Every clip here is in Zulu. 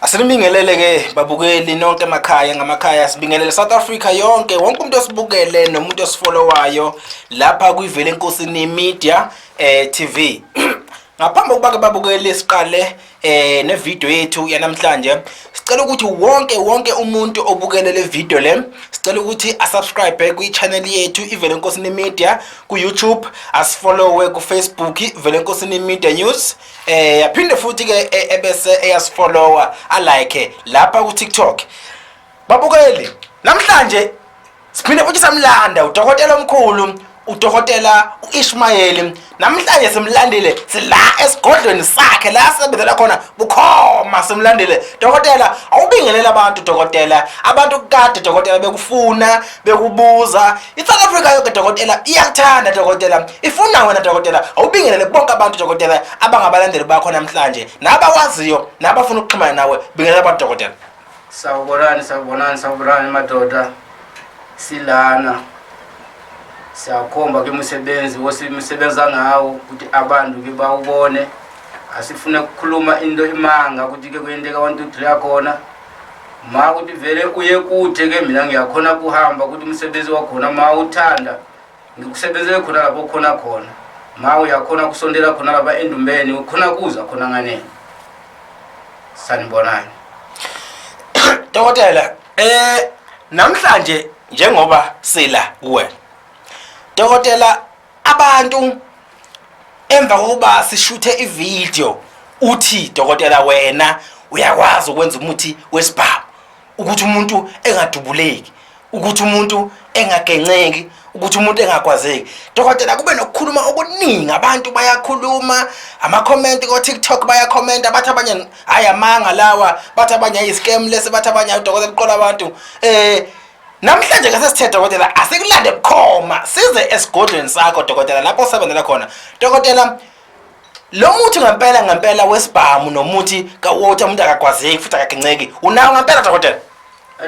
Asinibingelele ke babukeli nonke emakhaya ngamakhaya sibingelele South Africa yonke wonke umuntu osibukele nomuntu osifollowayo lapha kuyivele enkosini media eh TV ngaphambi kokuba ke babukeli siqale eh ne video yethu yanamhlanje sicela ukuthi wonke wonke umuntu obukele le video le sicela ukuthi asubscribe kwi channel yethu ivele enkosini media ku YouTube asifollowe ku Facebook ivele enkosini media news eh yaphinde futhi ke e, ebese eyasifollower alike lapha ku TikTok babukeli namhlanje siphinde futhi samlanda udokotela omkhulu udokotela uIshmayeli namhlanje simlandile sila esigodlweni sakhe la sebenzela khona bukhoma simlandile dokotela awubingelela abantu dokotela abantu kade dokotela bekufuna bekubuza I-South Africa yoke dokotela iyakuthanda dokotela ifuna wena dokotela awubingelele bonke abantu dokotela abangabalandeli bakho namhlanje nabakwaziyo nabafuna ukuxhumana nawe bingelela abantu dokotela sawubonani sawubonani sawubonani madoda silana siyakhomba ke umsebenzi wosisebenza ngawo ukuthi abantu ke bawubone asifune ukukhuluma into imanga ukuthi ke kuyenteka 1 2 3 yakhona ma ukuthi vele uye kude ke mina ngiyakhona kuhamba ukuthi umsebenzi wakhona ma uthanda ngikusebenzele khona lapho khona khona ma uyakhona kusondela khona lapha endumbeni ukhona kuza khona nganeni sanibonani dokotela eh namhlanje njengoba sila kuwena dokotela Abantu emva kokuba sishuthe ivideo uthi dokotela wena uyakwazi ukwenza umuthi wesibhamu ukuthi umuntu engadubuleki ukuthi umuntu engagenceki ukuthi umuntu engakwazeki dokotela kube nokukhuluma okuningi abantu bayakhuluma amakhomenti ko-tiktok bayakhomenta bathi abanye hhayi amanga lawa bathi abanye ayi-scam lesi bathi abanye ayi udokotela uqola abantu um Namhlanje ke sesithe dokotela asikulande bukhoma size esigodlweni sakho dokotela lapho osebenzela khona. Dokotela lo muthi ngempela ngempela wesibhamu nomuthi kawater umuntu akagwazeki futhi akaginceki unawo ngempela dokotela.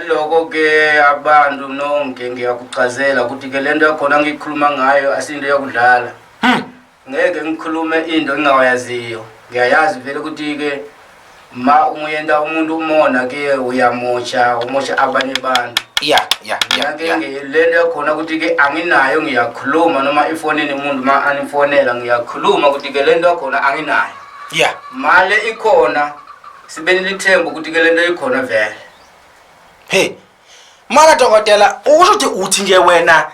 Lokho ke abantu nonke ngiyakuchazela ukuthi ke lento yakhona ngikhuluma ngayo asinto yakudlala. Hmm. ngeke ngikhulume into engingawayaziyo ngiyayazi vele ukuthi-ke ma umuyenta umuntu umona ke uyamosha umosha abanye abantu ya ya ya le nto yakhona ukuthi-ke anginayo ngiyakhuluma noma ifonini umuntu ma anifonela ngiyakhuluma ukuthi-ke le nto yakhona anginayo ya male ikhona sibe nilithemba ukuthi-ke le nto ikhona vele he mara dokotela usho ukuthi uthi nje wena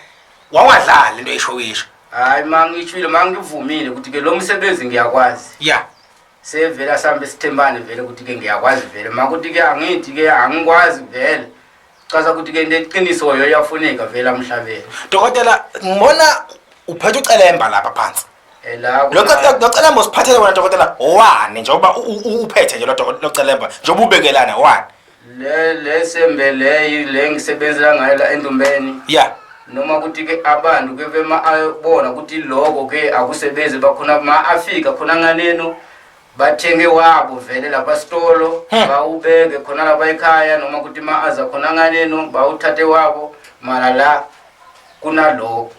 wawadlala into eyishowisho hayi ma ngishwile ma ngivumile ukuthi ke lo msebenzi ngiyakwazi ya sevele asambe sithembane vele ukuthi ke ngiyakwazi vele ma ukuthi ke angithi ke angikwazi vele chaza ukuthi ke ndeqiniso yo yafuneka vele amhlabeni dokotela ngibona uphethe ucelemba lapha phansi Eh, la lo kuna- ce- lo celemba usiphathele wona dokotela wani njengoba u- u- uphethe nje lo doko- lo celemba njengoba ubekelana wani le le sembe leyi le ngisebenzela ngayo la endumbeni ya noma ukuthi ke abantu ke bema abona ukuthi lokho ke akusebenzi bakhona ma afika khona nganeno bathenge wabo vele lapha sitolo Hmm. bawubeke khona lapha ekhaya noma ukuthi ma aza khona nganeno bawuthathe wabo mara la kunalokho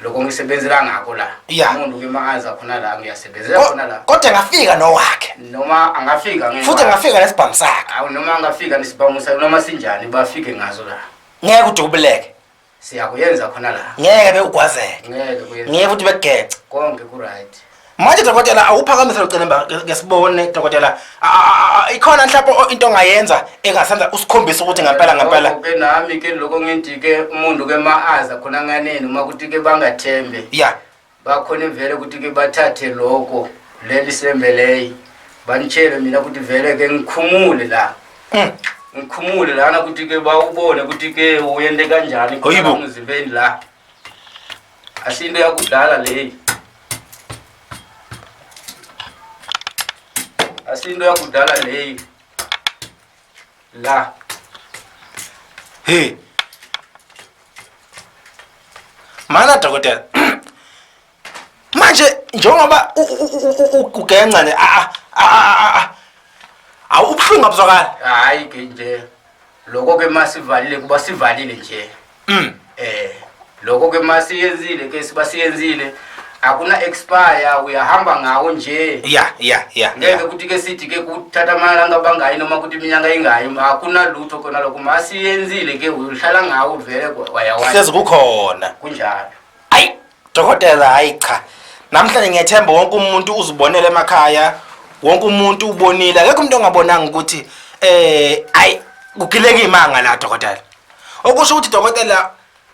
lokho ngisebenzela ngakho la Yeah. umuntu ke makaza khona la ngiyasebenzela khona la kodwa ngafika nowakhe noma angafika ngenxa- futhi ngafika nesibhamu sakhe Awu, noma angafika nesibhamu sakhe noma sinjani bafike ngazo la ngeke udubuleke siyakuyenza khona la ngeke bewugwazeke ngeke kuyenza ngeke futhi bekugece konke ku-right manje dokotela awuphakamise locelemba ke sibone dokotela ikhona mhlawumbe into ongayenza engasenza usikhombisa ukuthi ngempela ngempela ke nami ke lokho ngithi ke umuntu ke maaza khona nganeni uma kuthi ke bangathembe ya bakhona vele ukuthi ke bathathe lokho leli sembe leyi banitshele mina ukuthi vele ke ngikhumule la hmm. ngikhumule lana ukuthi ke bawubone ukuthi ke uyente kanjani emzimbeni la Asinto yakudala leyi. Asinto yakudala leyi. La. Hey. Mana dokotela. manje njengoba ugenca ne a a awubuhlungu abuzwakala hayi ke nje lokho ke masivalile kuba sivalile nje mm eh lokho ke masiyenzile ke sibasiyenzile akuna expire uyahamba ngawo nje ya ya ya ngeke ukuthi ke sithi ke kuthatha amalanga bangayi noma ukuthi iminyaka ingayi akuna lutho khona lokho masiyenzile ke uhlala ngawo vele wayawahlezi kukhona kunjalo ayi dokotela hayi cha namhlanje ngiyethemba wonke umuntu uzibonele emakhaya wonke umuntu ubonile akekho umuntu ongabonanga ukuthi eh ayi kugileka imanga la dokotela okusho ukuthi dokotela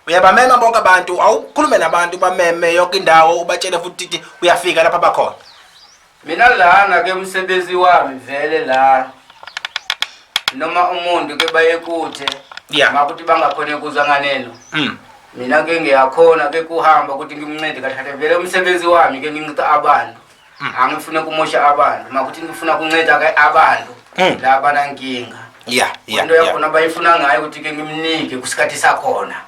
uyabamema bonke abantu awukhulume nabantu bameme yonke indawo ubatshele futhi ukuthi uyafika lapha bakhona Mina lana ke umsebenzi wami vele la noma umuntu ke bayekuthe Yeah. makuthi bangakhona kuza nganeno Mm. mina ke ngiyakhona ke kuhamba ukuthi ngimncede kahle vele umsebenzi wami ke nginceda abantu Mm. angifune kumosha abantu makuthi ngifuna kunceda ke abantu Mm. la banankinga Yeah, yeah, into yeah. yakhona bayifuna ngayo ukuthi ke ngimnike kusikhathi sakhona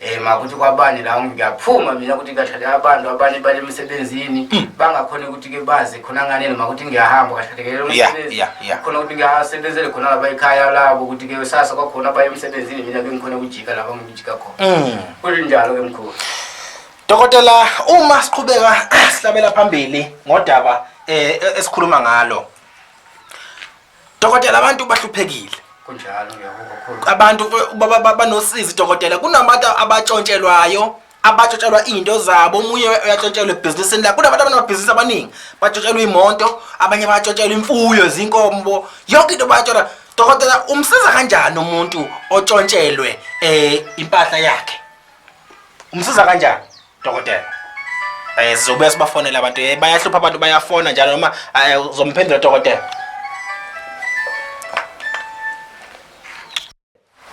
Eh makuthi kwabani la ngiyaphuma mina ukuthi kahlale abantu abanye bale emsebenzini hmm. bangakhona ukuthi ke bazi khona ngane noma ukuthi ngiyahamba kahlekele umsebenzi khona ukuthi ngiyasebenzele khona laba ekhaya labo ukuthi ke sasa kwakhona baye emsebenzini mina bengikhona ukujika laba ngijika khona hmm. kunjalo ke mkhulu Dokotela uma siqhubeka sihlabela phambili ngodaba eh esikhuluma ngalo Dokotela abantu bahluphekile. Kunjalo ngiyakukhuluma. Abantu banosizi dokotela kunabantu abatshontshelwayo abatshontshelwa izinto zabo omunye uyatshontshelwa ebhizinisini lakhe kunabantu abanamabhizinisi abaningi batshontshelwa imoto abanye batshontshelwa imfuyo zinkombo yonke into bayatshelwa dokotela umsiza kanjani umuntu otshontshelwe um impahla yakhe umsiza kanjani Dokotela. Eh sizobuya sibafonela abantu. Eh bayahlupha abantu bayafona njalo noma eh, uzomphendula dokotela.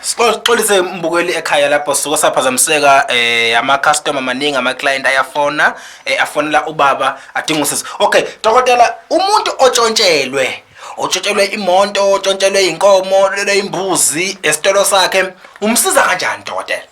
Sixolise umbukeli ekhaya lapho suka saphazamiseka eh ama customer maningi ama client ayafona eh, afonela ubaba adinga usizo. Okay, dokotela umuntu otshontshelwe otshontshelwe imonto, otshontshelwe inkomo, lelo imbuzi esitolo sakhe umsiza kanjani dokotela?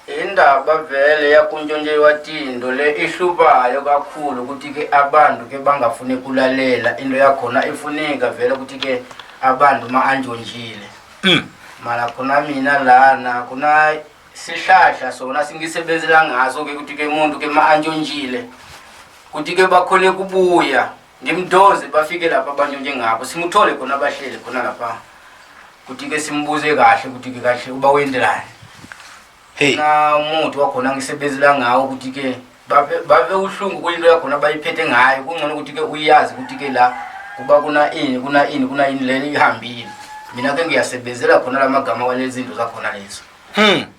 Indaba vele yakuntshontshelwa tindo le ihlubayo kakhulu ukuthi ke abantu ke bangafuni kulalela into yakhona ifuneka vele ukuthi ke abantu ma antshontshiile hmm. mara khona mina lana khona sihlahla sona singisebenzela ngaso ke ukuthi ke muntu ke ma antshontshiile ukuthi ke bakhone kubuya Ngimdonse bafike lapha abantu njengabo simuthole khona abahleli khona lapha. Kuthi ke simbuze kahle ukuthi ke kahle uba wendelani. Hey. Na umuthi wakhona ngisebenzela ngawo ukuthi ke babe babe uhlungu kuyinto yakhona bayiphethe ngayo kungcono ukuthi ke uyazi ukuthi ke la kuba kuna ini kuna ini kuna ini leli ihambile. Mina ke ngiyasebenzela khona lamagama walezinto zakhona lezo. Hmm.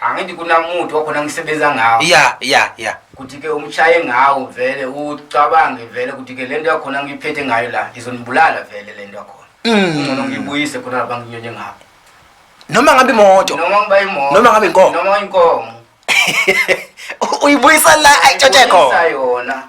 angithi kunamuthi wakhona ngisebenza ngawo ya ya ya kuthi ke umshaye ngawo vele ucabange vele kuthi ke lento yakhona ngiyiphethe ngayo la izonibulala vele lento yakhona Mm. ngcono ngiyibuyise khona lapha nginyonye ngawo noma ngabe imoto noma ngiba imoto Noma ngabe inkomo. noma inkomo uyibuyisa la ayitshothe Ngibuyisa khona yona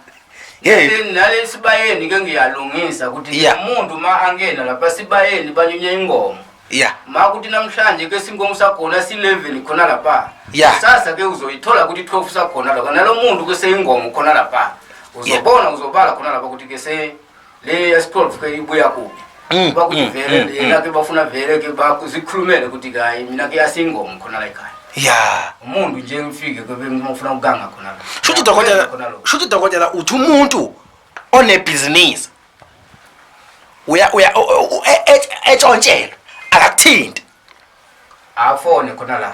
Hey. Nale- nale esibayeni ke ngiyalungisa ukuthi Yeah. umuntu uma angena lapha sibayeni banyunya ingoma ya ma ukuthi namhlanje ke sinkomo sakhona si-11 khona lapha Ya. sasa ke uzoyithola ukuthi 12 sakhona lapha nalo muntu ke seyingomo khona lapha uzobona uzobala khona lapha ukuthi ke se le yesi-12 ke ibuya kuphi Mm, uba kuthi mm, vele mm, yena ke bafuna vele ke ba- zikhulumele ukuthi kayi mina ke yasiyingomo khona la ekhaya ya umuntu nje ngifike ke bengifuna ukuganga khona la shuthi Ngiyagweza dokotela khona lokho. shuthi dokotela uthi umuntu onebhizinisi uya uya etshontshelwa e, akakuthinti afone khona la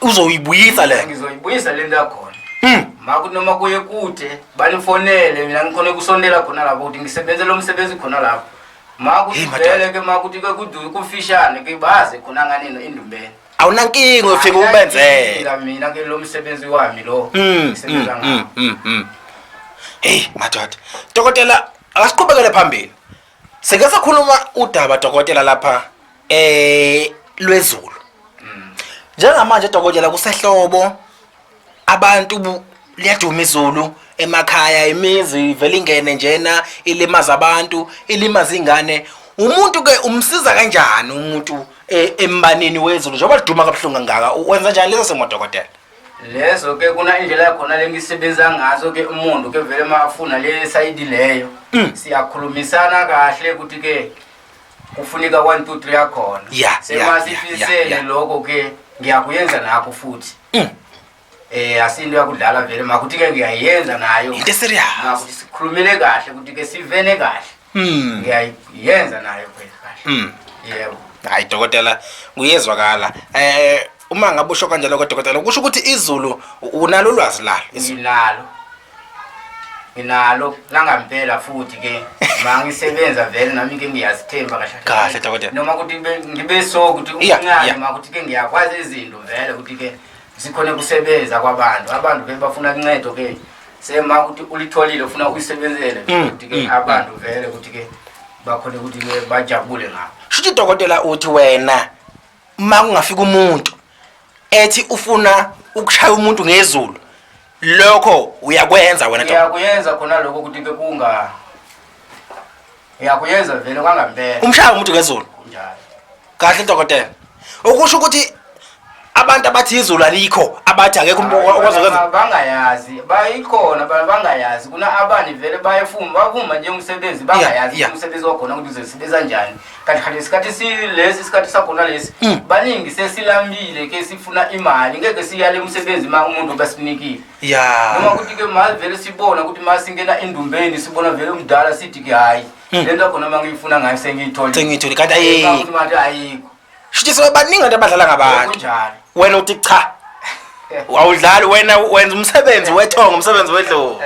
uzoyibuyisa le ngizoyibuyisa le nto yakhona hmm. makunoma kuye kude banifonele mina ngikhona kusondela khona lapho ukuthi ngisebenzele umsebenzi khona lapho makuthi vele ke makuthi ke kufishane ke baze khona nganeno endumbeni awunankinga uyofika ubenzele Ngila mina ke lo msebenzi wami lo Mm, ngisebenza mm, ngawo. mm, mm, mm. hey madoda dokotela akasiqhubekele phambili sike sakhuluma udaba dokotela lapha eh lwezulu njengamanje dokotela kusehlobo abantu bu- liyaduma izulu emakhaya imizi ivele ingene njena ilimaza abantu ilimaza ingane umuntu ke umsiza kanjani umuntu e- embanini wezulu njengoba liduma kabuhlungu kangaka u- wenza njani leso simo dokotela lezo ke kuna indlela yakhona lengisebenza ngazo ke umuntu ke vele mafuna le sayidi leyo siyakhulumisana kahle ukuthi ke kufuneka 1 2 3 akhona yeah, semasifisele yeah, yeah, lokho ke ngiyakuyenza nakho futhi mm. eh asinto yakudlala vele makuthi ke ngiyayenza nayo into serious makuthi sikhulumele kahle ukuthi ke sivene kahle mm. ngiyayenza nayo kahle mm. yebo hayi dokotela kuyezwakala eh uma ngabe usho kanjalo kodokotela kusho ukuthi izulu unalo ulwazi lalo nginalo nginalo langampela futhi ke mangisebenza vele nami ke ngiyazithemba kahle kahle dokotela noma ukuthi ngibe so ukuthi uncane ma ukuthi ke ngiyakwazi izinto vele ukuthi ke sikhona kusebenza kwabantu abantu ke bafuna kuncedo ke sema ukuthi ulitholile ufuna uyisebenzele mm, ukuthi ke mm, abantu mm. vele ukuthi ke bakhona ukuthi bajabule ngabo shuthi dokotela uthi wena uma kungafika umuntu ethi ufuna ukushaya umuntu ngezulu lokho uyakwenza wena ntombazane ngiyakuyenza khona lokho ukuthi ke kunga ngiyakuyenza vele kwangampela umshaya umuntu ngezulu kunjalo kahle dokotela ukusho ukuthi abantu abathi izulu alikho abathi akekho umuntu okwazi ukwenza Ba- bangayazi bayikhona ba- bangayazi kuna abani vele bayefuma bavuma nje umsebenzi bangayazi Yeah, yeah. ukuthi umsebenzi wakhona ukuthi uzosebenza njani kanti kanti isikhathi silesi isikhathi sakhona lesi mm. baningi sesilambile ke sifuna imali ngeke siyale umsebenzi ma umuntu besinikile ya noma ukuthi ke mali vele sibona ukuthi ma singena endumbeni sibona vele umdala sithi ke hayi mm. le nto khona ma ngiyifuna ngayo sengiyithole sengiyithole kanti ayikho manje ayikho shithi so baningi abantu abadlala ngabantu kunjalo wena uthi cha wawudlali wena wenza umsebenzi wethonga umsebenzi wedlozi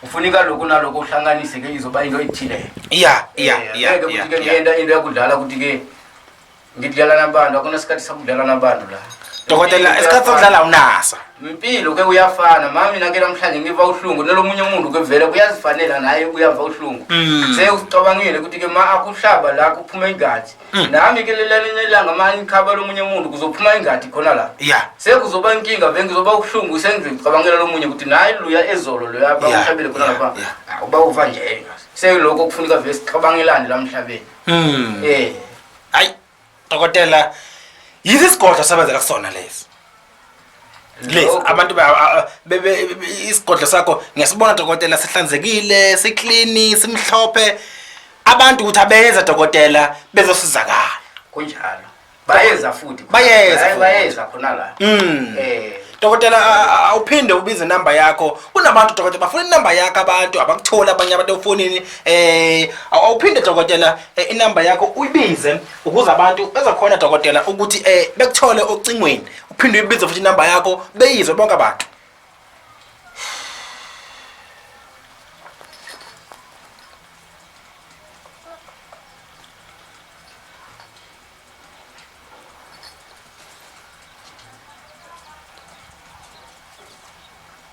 kufuneka lokhu nalokhu uhlanganise ke izoba into ethile ya ya eh, ya ukuthi ke ngiyenda into yakudlala ukuthi ke ngidlala nabantu akunasikhathi sakudlala nabantu la dokotela isikhathi sokudlala unasa impilo ke uyafana mami mina ke namhlanje ngiva uhlungu nelomunye umuntu ke vele kuyazifanela naye uyava uhlungu mm. sewucabangile ukuthi ke ma akuhlaba la kuphume igazi Mm. nami ke lelelinye ilanga mani ikhaba lomunye umuntu kuzophuma ingadi khona la ya sekuzoba inkinga vele ngizoba ubuhlungu sengicabangela lomunye ukuthi naye luya ezolo loya Yeah, bamhlabele khona yeah, lapha yeah. Ah, uba uva nje sekulokho kufuneka vele sicabangelane la mhlabeni Mm. eh hayi dokotela yithi isigodlo sebenzela kusona lesi Yes, abantu ba- a- a- bebe isigodlo sakho ngiyasibona dokotela sihlanzekile, siclean, simhlophe. Abantu ukuthi abeza dokotela bezosizakala. kunjalo bayeza futhi Bayeza Baye- futhi. bayeza khona la Mm. eh Dokotela a- a- awuphinde ubize number yakho. Kunabantu dokotela bafuna inumber yakho abantu abakutholi abanye abantu ofonini eh awuphinde dokotela eh, inumber yakho uyibize ukuze abantu bezokhona dokotela ukuthi eh bekuthole ocingweni uphinde uyibize futhi inamba yakho beyizwe bonke abantu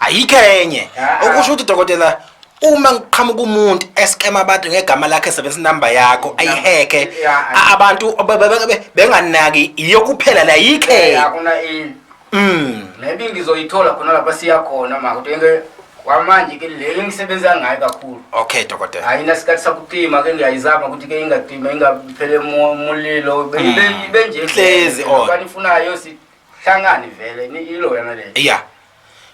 ayikho enye okusho ukuthi dokotela uma ngiqhamuka umuntu eskema abantu ngegama lakhe esebenzisa inamba yakho ayiheke a- abantu be- be- be- be- benganaki yiyo kuphela la yikho Eh, enye. akuna ini Mm. maybe ngizoyithola khona lapha siya khona ma kodwa ke kwamanje ke le engisebenza ngayo kakhulu okay dokotela ayina sikhathi sakutima ke ngiyayizama ukuthi ke ingatima ingaphele mo- mulilo Be- Mm. ibe- ibe nje Hlezi on. kwani ifunayo sihlangane vele ni- ilo yana le ya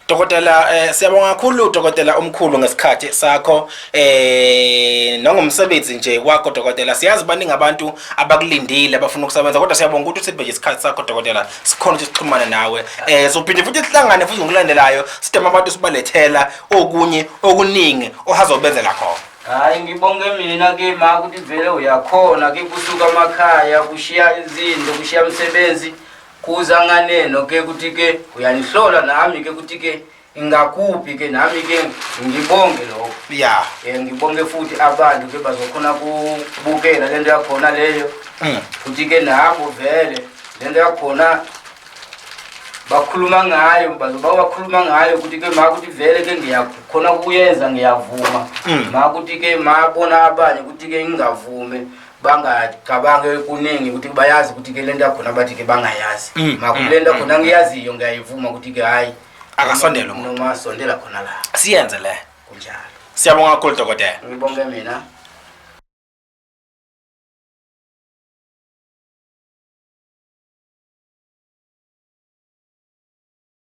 Dokotela eh, siyabonga kakhulu dokotela omkhulu ngesikhathi sakho eh nangomsebenzi nje wakho dokotela siyazi baningi abantu abakulindile abafuna ukusebenza kodwa siyabonga ukuthi usibe nje isikhathi sakho dokotela sikhona ukuthi sixhumane nawe eh sophinde futhi sihlangane futhi ngokulandelayo sidema abantu sibalethela okunye okuningi ohazobenzela khona hayi ngibonge mina ke ma ukuthi vele uyakhona ke kusuka amakhaya kushiya izinto kushiya umsebenzi Kuza nganeno ke ukuthi ke uyanihlola nami ke ukuthi ke ingakuphi ke nami ke ngibonge lokho ya um ngibonge futhi abantu ke bazokhona kubukela le nto yakhona leyo mm. futhi ke nabo vele le nto yakhona bakhuluma ngayo bazoba bakhuluma ngayo ukuthi ke ma ukuthi vele ke ngiyakhona kuyenza ngiyavuma mm. ma ukuthi ke mabona abanye ukuthi ke ngingavume bangacabange kuningi ukuthi bayazi ukuthi ke lento yakhona bathi ke bangayazi mm, makulento mm, khona mm, ngiyaziyo ngiyayivuma ukuthi ke hayi akasondele umuntu noma asondela khona la siyenze le kunjalo siyabonga kakhulu dokotela ngibonge mina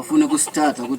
Ufuna kusithatha ukuthi